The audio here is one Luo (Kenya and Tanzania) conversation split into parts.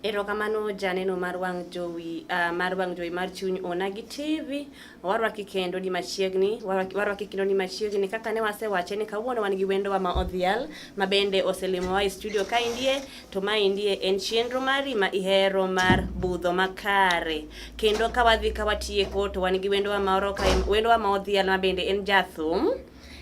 Erokamano janeno mar wang' jowi uh, mar wang' jowi mar chuny ona gi TV warwaki kendo ni machiegni warwaki kendo ni machiegni kaka ne wasewache ni kawuono wan gi wendowa ma odhial ma bende oselimowa e studio ka indie to ma indie en chenro mari ma ihero mar budho makare kendo ka wadhi ka watieko to wan gi wendowa ma oroka wendowa ma odhial ma bende en jathum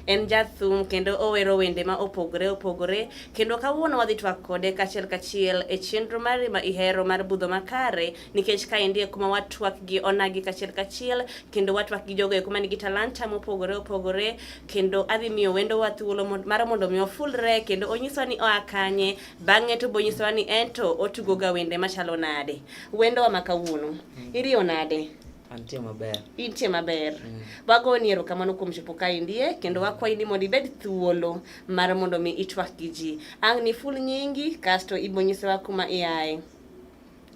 En jathum kendo owero wende ma opogore opogore kendo kawuono wadhi twak kode kachiel kachiel e chenro mari ma ihero mar budho makare nikech ka endie kuma watwak gi onagi kachiel kachiel kendo watwak gi jogo eko man gi talanta mopogore opogore kendo adhi miyo wendo wa thuolo mar mondo mi ofulre kendo onyiswa ni oa kanye bang'e to bonyisowa ni ento otugo ga wende machalo nade wendo wa ma kawuono iriyo nade Antie maber. Intie maber. Mm. Wago ni erokamano kuom chopo kae ndie kendo mm. wakwayi ni mondo ibed thuolo mar mondo mi itwak gi ji. Ang' ni full nyingi kasto ibonyisewa kuma iaye.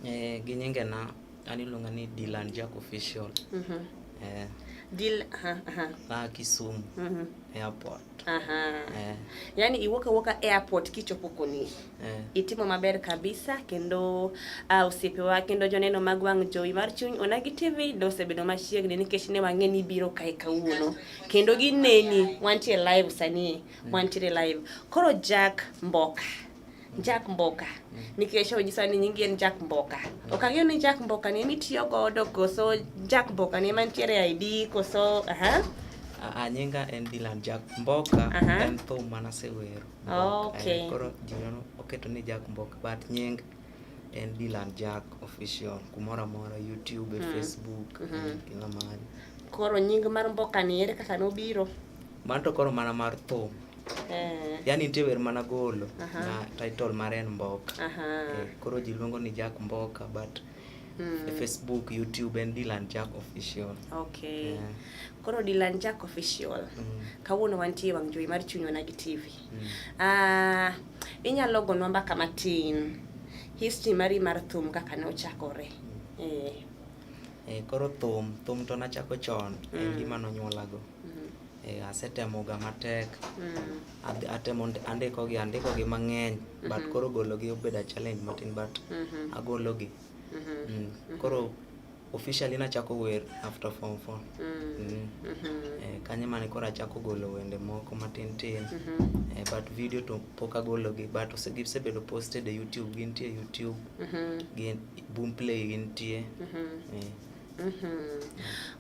Eh, gi nyinge na an iluonga ni Dylan Jack Official. Mm -hmm. eh. Dil, aha, aha. Na Kisumu. Mm -hmm. Airport. Aha. Eh. Yaani iwoka woka airport kichopo koni. Eh. Itimo maber kabisa kendo uh, ah, osiepewa kendo joneno mag wang' jowi mar chuny onagi TV dosebedo machiegni nikech ne wang'e ni biro kae kawuono kendo gineni wantie live sani mm. wantiere live koro Jack Mboka Jack Mboka mm. nikech onyisa ni nyingi en Jack Mboka mm. ok ang'eyo ni Jack Mboka ni ema itiyo godo koso Jack Mboka ni ema nitiere e ID koso aha uh, nyinga en Dylan Jack Mboka uh -huh. en thum mana sewero oh, okay. eh, koro ji oketo ni Jack Mboka but nying en Dylan Jack official kumoro amora YouTube mm. Facebook mm -hmm. kila mahali koro nying mar Mboka ni ere kaka nobiro man to koro mana mar thum Eh. Yaani nitie wer mana golo uh -huh. na title mare en Mboka. Uh -huh. Eh, koro ji luongo ni Jack Mboka but Mm. Facebook, YouTube and Dylan Jack Official. Okay. Yeah. Koro Dylan Jack Official. Mm. Kawuono wantie wang' jowi mar chunywa na gi TV. Mm. Ah, uh, inyalo gonwa mbaka matin. History mari mar thum kaka ne ochakore. Mm. Eh. Eh, koro thum, thum to nachako chon. Mm. En gima nonyuolago. Mm. Eh, asetemoga matek mm. atemo andikogi andikogi mang'eny mm-hmm. but koro gologi obedo a challenge matin but mm-hmm. agologi mm-hmm. mm. mm-hmm. koro officially nachako wer after form four mm. mm. mm-hmm. eh, kanye mane koro achako golo wende moko matin tin mm-hmm. eh, but video to pok agologi but gisebedo posted e youtube gintie youtube mm-hmm. gin boom play gintie mm-hmm. eh. Mm-hmm.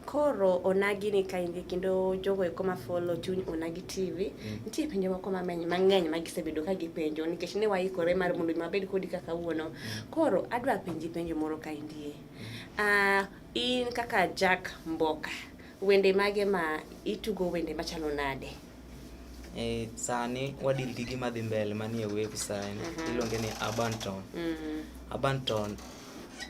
Koro onagi ni kaindi kendo jogo eko ma follow chuny onagi TV mm. nitie penjo moko mameny mang'eny ma gisebedo ka gipenjo nikech ne waikore mar mondo mabed kodi kaka wuono mm. koro adwa penji penjo moro kaindie uh, ah, in kaka Jack Mboka wende mage ma itugo wende machalo nade e, sani wadil gi gima dhi mbele manie website mm -hmm. iluonge ni Abanton mm -hmm. Abanton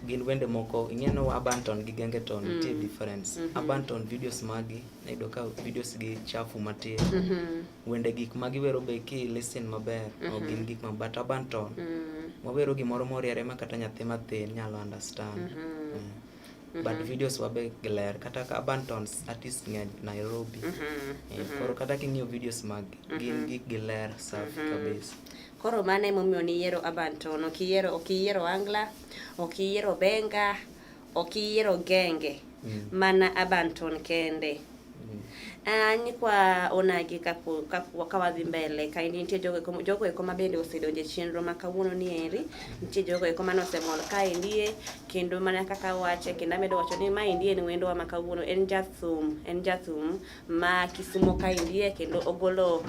gin wende moko ing'eno abanton gi gengeton mm. nitie difference mm -hmm. abanton videos magi nayudo ka videos gi chafu matin mm -hmm. wende gik ma giwero be ki listen maber mm -hmm. ok gin gik ma but abanton mm -hmm. wawero gimoro moriere ma kata nyathi mathin nyalo understand mm -hmm. yeah. Mm -hmm. but mm-hmm. videos wabe gler kata ka abantons artist ng'eny nairobi mm -hmm. yeah, mm -hmm. koro kata king'iyo videos mag mm -hmm. gin mm-hmm. gik giler safi mm -hmm. kabisa Koro mano emomiyo niyiero Urban Tone, ok iyiero ok iyiero Angla, ok iyiero Benga, ok iyiero Genge, mm. mana Urban Tone kende. Mm. Ah, nyikwa onagi ka wadhi mbele ka nitie jogo eko ma bende osedonjo e chenro ma kawuono ni eri nitie jogo eko mane osemol ka endie kendo mana kaka wache kendo amedo wacho ni ma endie en wendwa ma kawuono en jathum en jathum ma Kisumo ka indie kendo ogolo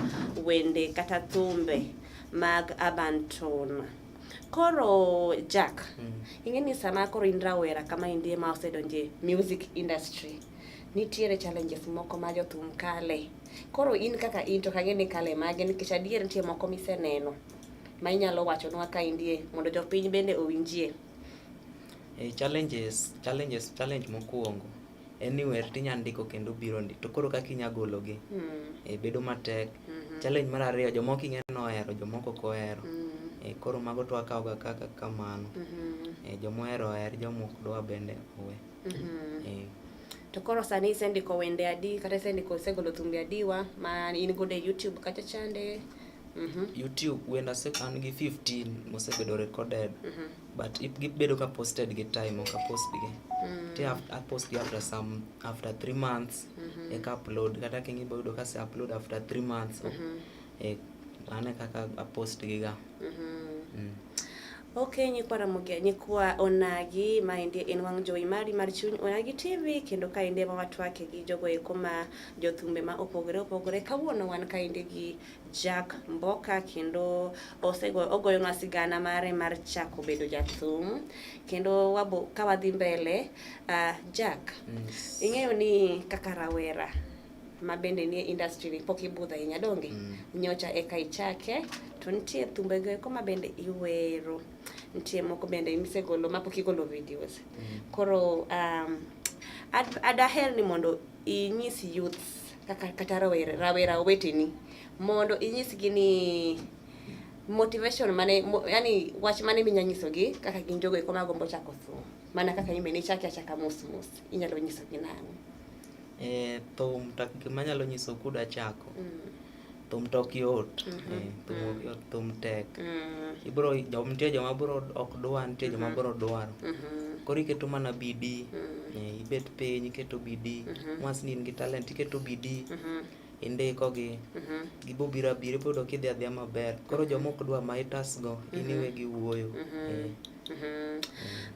wende kata thumbe mag urban tone. Koro Jack, mm. ing'e ni sama koro in rawera kama indie ma osedonje music industry nitiere challenges moko ma jothum kale. Koro in kaka in to kang'e ni kale mage nikech adier nitie moko miseneno ma inyalo wachonwa ka indie mondo jopiny bende owinjie. E, challenges, challenges, challenge mokwongo anywhere tinya ndiko kendo biro ndi to koro kaka inya gologi mm. e, bedo matek mm -hmm. challenge mar ariyo jomoko ing'e ni ohero jomoko ok ohero mm. e, koro mago to akawoga kaka kamano mm -hmm. e, jomohero oher jomok dwa bende owe mm -hmm. e. to koro sani isendiko wende adi kata isendiko isegolo thumbe adiwa ma in godo e youtube kacha chande mm -hmm. youtube wenda an gi 15 mosebedo recorded mm -hmm. but if gibedo ka posted gi time ok apost gi mm. ti apost gi after some after three months mm -hmm. eka upload kata kingi boyudo ka se upload after three months mm -hmm. e ane kaka apost gi ga mm -hmm. mm. Okay, nyikwa Ramogi, nyikwa Onagi, ma endi en wang' jowi mari mar chuny Onagi TV, kendo ka endi ema watwake gi jogo eko ma jothumbe ma opogore opogore. Kawuono wan ka endi gi Jack Mboka kendo osegoyo ogoyo na sigana mare mar chako bedo jathum kendo wabo ka wadhi mbele uh, Jack yes. ing'eyo ni kaka rawera ma bende nie industry ni pok ibudho ahinya donge mm. nyocha eka ichake to nitie thumbe go eko ma bende iwero nitie moko bende misegolo ma pok igolo videos mm. koro um, ad, adaher ni mondo inyis youths kata rawera rawera weteni mondo inyisgi ni motivation mane mo, yani wach mane minya nyisogi kaka gin jogo eko magombo chako thum mana kaka imbe ni chaki achaka mos mos inyalo nyisogi nang'o e, thum tak gima nyalo nyiso kuda chako mm. thum to ok yot mm-hmm. eh, thum ok mm-hmm. yot thum tek mm-hmm. ibro nitie joma bro ok dwa nitie joma bro dwaro koro iketo mana bidii eh, ibet piny iketo bidii once ni in gi talent iketo bidii indikogi gibobiro abira iboyudo kidhi adhiya maber koro joma ok dwa ma itasgo in iwe gi wuoyo eh. Mm -hmm.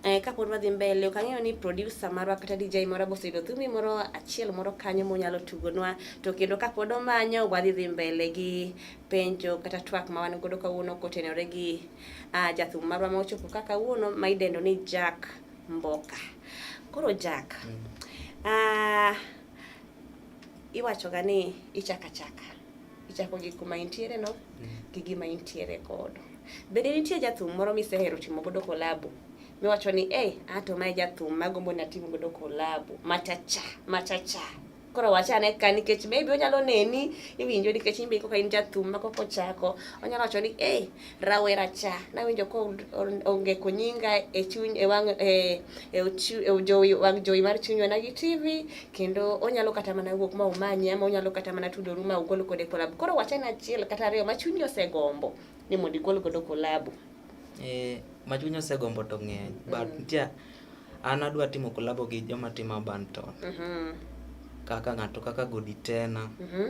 Eh, kapod wadhi mbele ok ang'eyo ni producer marwa kata DJ moro boseyudo thumi moro achiel moro kanyo monyalo tugonwa to kendo kapod omanyo wadhi dhi mbele gi penjo kata twak ma wan godo kawuono kotenore gi uh, jathum marwa ma ochopo ka kawuono ma idendo ni Jack Mboka. Koro Jack, mm. uh, iwachoga ni ichaka chaka ichako gi kuma intiere no mm. gi gima intiere godo. Bende nitie jathum moro misehero timo godo kolabo miwacho ni eh, ato mae jathum magombo ni atim godo kolabo machacha machacha koro wachane ka nikech maybe onyalo neni iwinjo nikech imbe kaka in jathum ma koko chako onyalo wacho ni eh, rawera cha nawinjo ka ongeko nyinga e chuny e wang e, e, e jowi wang jowi mar chunywa na gi TV kendo onyalo kata mana wuok ma umanyi ama onyalo kata mana tudoru ma ugol kode kolabu koro wachana achiel kata ariyo ma chunyi osegombo ni mondo igol godo kolabu eh ma chunyi osegombo to ng'eny but mm. nitie an adwa timo kolabo gi joma timo banton mm -hmm. kaka ng'ato kaka Goditena mm -hmm.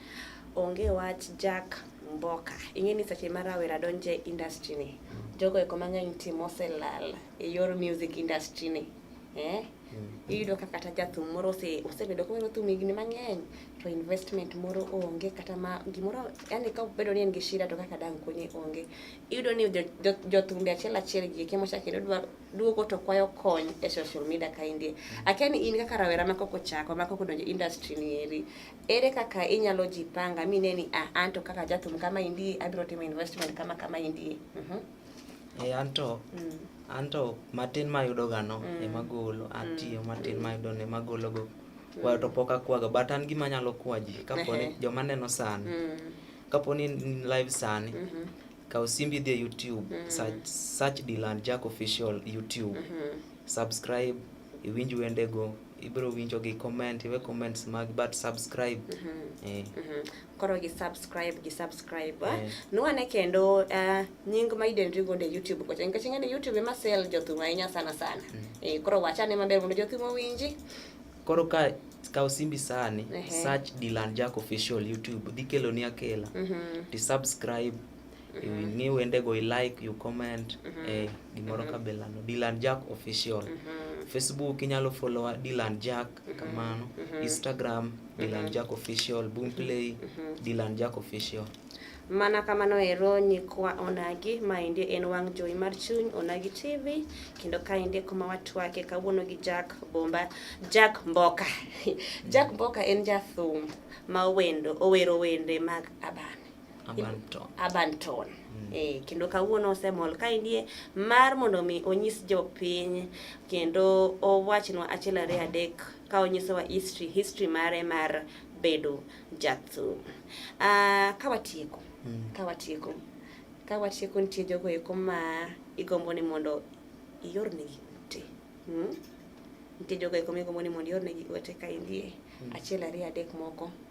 Onge wach Jack Mboka. Ing'e ni seche ma rawera donje industry ni, jogo eko mang'eny timo oselal e yor music industry ni. Eh? Mm. Iyudo ka kata jathum moro ose osebedo kowero thum higni mang'eny to investment moro onge kata ma gimoro yani ka bedo ni en gi shida to kaka dang' konye onge. Iyudo ni jothumbe achiel achiel gi eki mochako kendo dwa duogo to kwayo kony e social media kaendi. Mm. Akia ni in kaka rawera ma koko chako ma koko donjo industry ni eri Ere kaka inyalo ji panga mi neni ah, anto kaka jathum kama indie abiro timo investment kama kama indie. Mm -hmm. E eh, anto mm. anto matin ma yudo gano mm. ema golo atiyo mm. matin ma yudo ne magolo go. Mm. Kwayo to pok akwaga but an gima nyalo kwaji kapo ni joma neno sani. Mm. Kapo ni live sani. Mm -hmm. Kaw simbi dhi e YouTube, mm -hmm. search, search Dylan Jack official YouTube. Mm -hmm. Subscribe iwinj wendego ibiro winjo gi comment iwe comments mag but subscribe mm -hmm. eh. mm -hmm. koro gi subscribe gi subscribe eh. eh. nwane kendo uh, nying ma idendri godo e youtube kocha nikech ing'e ni youtube ema sel jothum ahinya sana sana mm -hmm. eh, koro wachane maber mondo jothum owinji koro ka ka osimbi sani uh -huh. search Dylan Jack official youtube dhi keloni akela mm -hmm. ti subscribe ing'i wendego i like you comment mm -hmm. eh, gimoro mm -hmm. kabelano dilan jack official mm -hmm. facebook inyalo followa dilan jack mm -hmm. kamano mm -hmm. instagram mm -hmm. dilan jack official boomplay mm -hmm. dilan jack official mana kamano ero nyikwa onagi maendi en wang' jowi mar chuny onagi tv kendo kaendi kuma watwake kawuono gi jack bomba jack mboka jack mboka en jathum ma wendo owero wende mag abane urban tone mm. E, kendo kawuono osemol ka indie mar mondo mi onyis jopiny kendo owachnwa achiel ariyo adek ka onyisowa history history mare mar bedo jathum uh, ka watieko mm. ka watieko ka watieko nitie jogo eko ma igombo ni mondo iornegi te mm? nitie jogo eko migombo ni mondo iornegi ote ka indie mm. achiel ariyo adek moko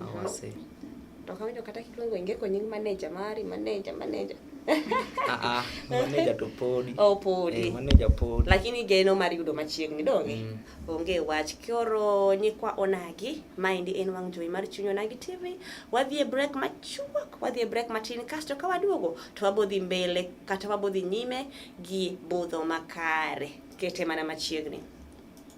awase to ok awinjo kata kiluongo ingeko nying manager mari manager manager Ah, ah, maneja to podi oh, podi eh, maneja podi lakini geno mar yudo machiegni donge mm. onge wach koro nyikwa onagi maendi en wang' jowi mar chuny onagi tv wadhi e break machuok wadhi e break matin kasto ka waduogo to wabodhi mbele kata wabodhi nyime gi budho makare kete mana machiegni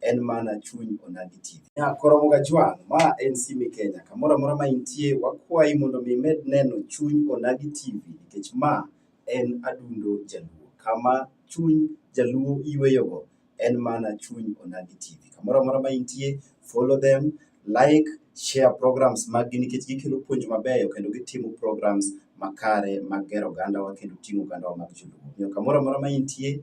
en mana chuny Onagi TV. Ya koromo ga jwang, ma en Simi Kenya. Kamoro amora ma intie, wakwayi mondo mi med neno chuny Onagi TV nikech ma en adundo Jaluo. Kama chuny Jaluo yweyogo en mana chuny Onagi TV. Kamoro amora ma intie, follow them, like, share programs maggi nikech gikelo puonj mabeyo kendo gitimo programs makare mag gero ogandawa kendo ting'o ogandawa mag Joluo. Omiyo kamoro amora ma intie,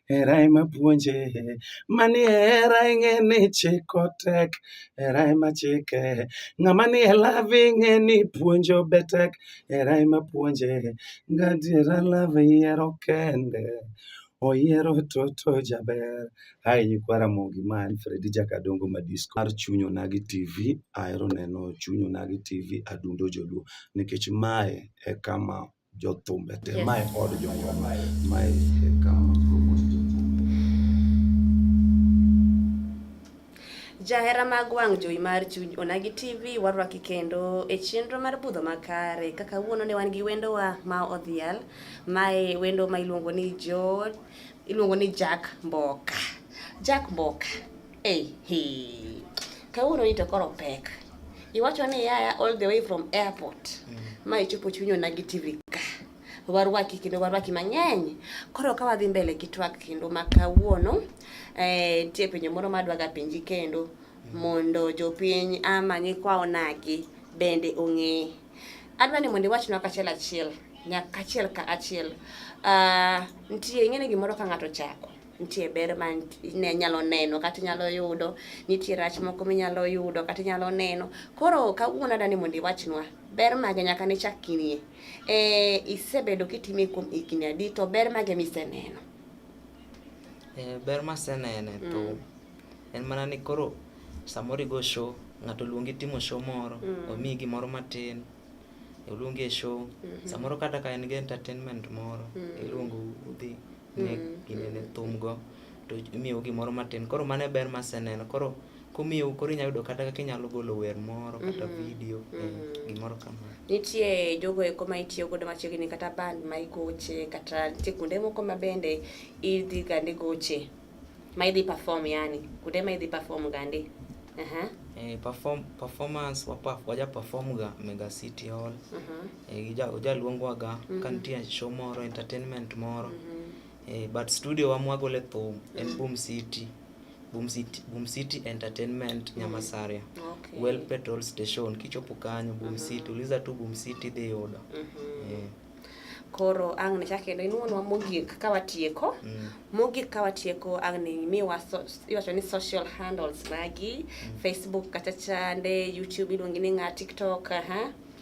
Hera ema puonje, mani hera ing'e ni chiko tek, hera ema chike. Ng'ama ni e love ing'e ni puonjo be tek, hera ema puonje. Gadiera love yiero kende, oyiero toto jaber. Hai nyikwa Ramogi ma en Fredi Jakadongo Madisco mar Chuny Onagi TV. Ahero neno Chuny Onagi TV adundo joluo nikech mae e kama jothumbe te yes. mae od jongwa mae mae kama jahera mag wang' jowi mar chuny onagi tv warwaki kendo e chenro mar budho makare kaka wuono ne wan gi wendowa ma odhial mae wendo ma iluongo ni jo iluongo ni jack mboka jack mboka Hey, hey. Kawuono ni to koro pek. Iwacho ni yaya all the way from airport. Mm. Ma ichopo chunyo na gi TV ka. Warwaki kendo warwaki mang'eny. Koro ka wadhi mbele gi twak kendo ma kawuono eh tie penjo moro ma dwaga penji kendo mm. mondo jopiny ama nyikwa onagi bende ong'e. Adwa ni mondo iwachnwa kachiel achiel nyaka achiel ka achiel. Uh, ah, ntie ing'e ni gimoro ka ng'ato chako nitie ber ma ne nyalo neno kata inyalo yudo nitie rach moko minyalo yudo kata inyalo neno koro kawuono adani mondo iwachnwa ber mage nyaka ne chak kinie e, isebedo kitime kuom higni adi to ber mage miseneno e, ber masenene mm. to en mana ni koro samoro igo show ng'ato luongi timo show moro mm. omiyi gimoro matin iluongi e show mm -hmm. samoro kata ka en gi entertainment moro mm. iluongo udhi ne mm. ginene thumgo to imiyo gimoro matin koro mano e ber maseneno koro kumiyo koro inyalo yudo kata kaka inyalo golo wer moro kata mm-hmm. video eh, mm-hmm. gimoro kamano nitie jogo eko ma itiyo godo machiegni kata band ma igoche kata nitie kuonde moko ma bende idhi gande goche ma idhi perform yani kuonde ma idhi perform gande uh-huh. eh, perform, performance waja perform ga mega city hall uh-huh. Eh, ja, ojaluongwaga mm -hmm. kantie show moro entertainment moro mm -hmm. eh, but studio wamwagole thum en mm -hmm. boom city Boom City, Boom City Entertainment mm. Nyamasaria okay. Well Petrol Station kichopo kanyo Boom mm -hmm. City uliza tu Boom City dhi yudo mm -hmm. yeah. Koro ang' ne chak kendo inuonwa mogik ka watieko mm. mogik ka watieko ang' ne imiwa so, iwacho ni social handles magi mm. Facebook kacha chande YouTube iluongi ni ng'a TikTok aha uh -huh.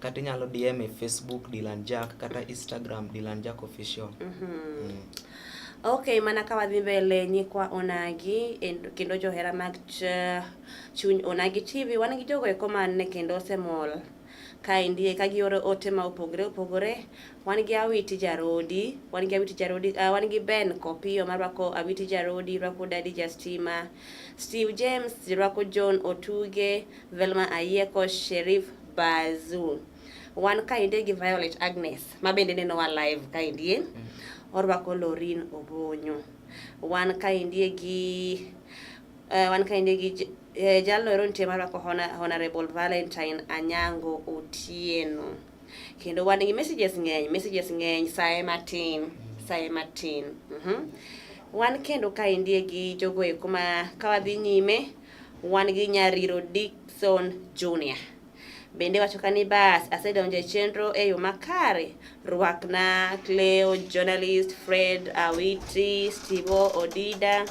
kata inyalo DM e Facebook Dylan Jack kata Instagram Dylan Jack official. Mm -hmm. mm. Okay, mana ka wadhi mbele nyikwa Onagi kendo johera mag ch chuny Onagi TV wan gi jogo eko man ne kendo osemol kaendi ka gioro ote ma opogore opogore wan gi awiti jarodi wan gi awiti jarodi uh, wan gi ben kopiyo marwako awiti jarodi rwako dadi jastima Steve James, Jirwako John Otuge, Velma Ayeko, Sherif Bazu. Wan kainde gi Violet Agnes, ma bende nenowa live kaindie. Mm. Orwako Lorin Obonyo. Wan kaindie gi uh, wan kaindie gi eh, jalno ero nitie marwako Honorable Valentine Anyango Otieno. kendo wan gi messages ng'eny messages ng'eny saye matin saye matin mm -hmm. wan kendo ka indie gi jogo eko ma ka wadhi nyime wan gi nyariro Dickson Junior bende wacho ka ni bas asedonjo e chenro e yo makare rwakna Cleo journalist Fred Awiti Stivo Odida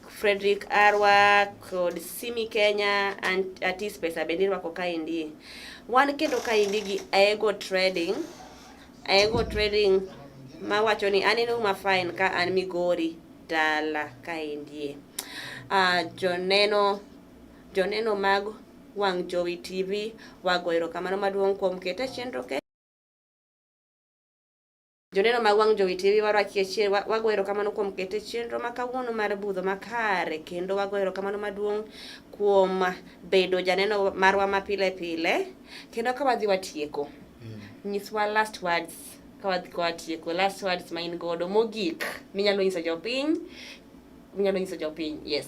Frederick Arwa kod Simi Kenya and Atis Pesa bende irwako kaendi. Wan kendo kaendi gi Aego Trading. Aego Trading mawacho ni an inuma fine ka an Migori dala kaendie. Uh, joneno joneno mag Wang' Jowi TV wago erokamano maduong' kuom kete chenro ke Joneno mag Wang' Jowi TV waro achiel wago erokamano kuom kete chenro ma kawuono mar budho makare kendo wago erokamano maduong' kuom bedo janeno marwa ma pile pile kendo ka wadhi watieko mm. nyiswa last words ka wadhi ka watieko last words ma in godo mogik minyalo nyiso jopiny minyalo nyiso jopiny yes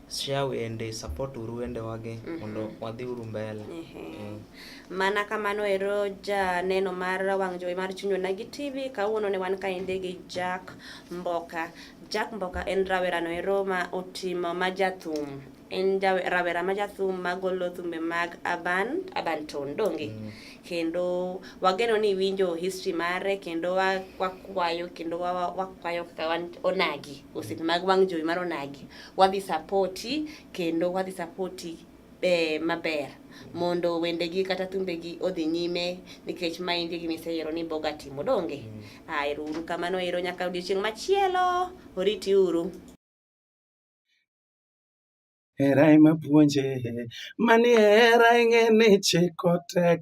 share wende support uru wende wage mm -hmm. mondo wadhi uru mbele mm -hmm. mm. mana kamano ero ja neno mar wang' jowi mar chunywa nagi tv kawuono ne wan kaende gi jack mboka jack mboka en rawerano ero ma otimo ma jathum en rawera ma jathum magolo thumbe mag aban abanton donge mm. kendo wageno ni winjo history mare kendo wakwayo kendo wakwayo kaka onagi osiepe mag wang' jowi mar onagi Wadhi sapoti kendo wadhi sapoti e, maber mondo wendegi kata thumbegi odhi nyime nikech ma in gini iseyiero ni boga timo donge mm. a ero uru kamano ero nyaka odiochieng' machielo oriti uru hera ema puonje mani hera ing'e ni chiko tek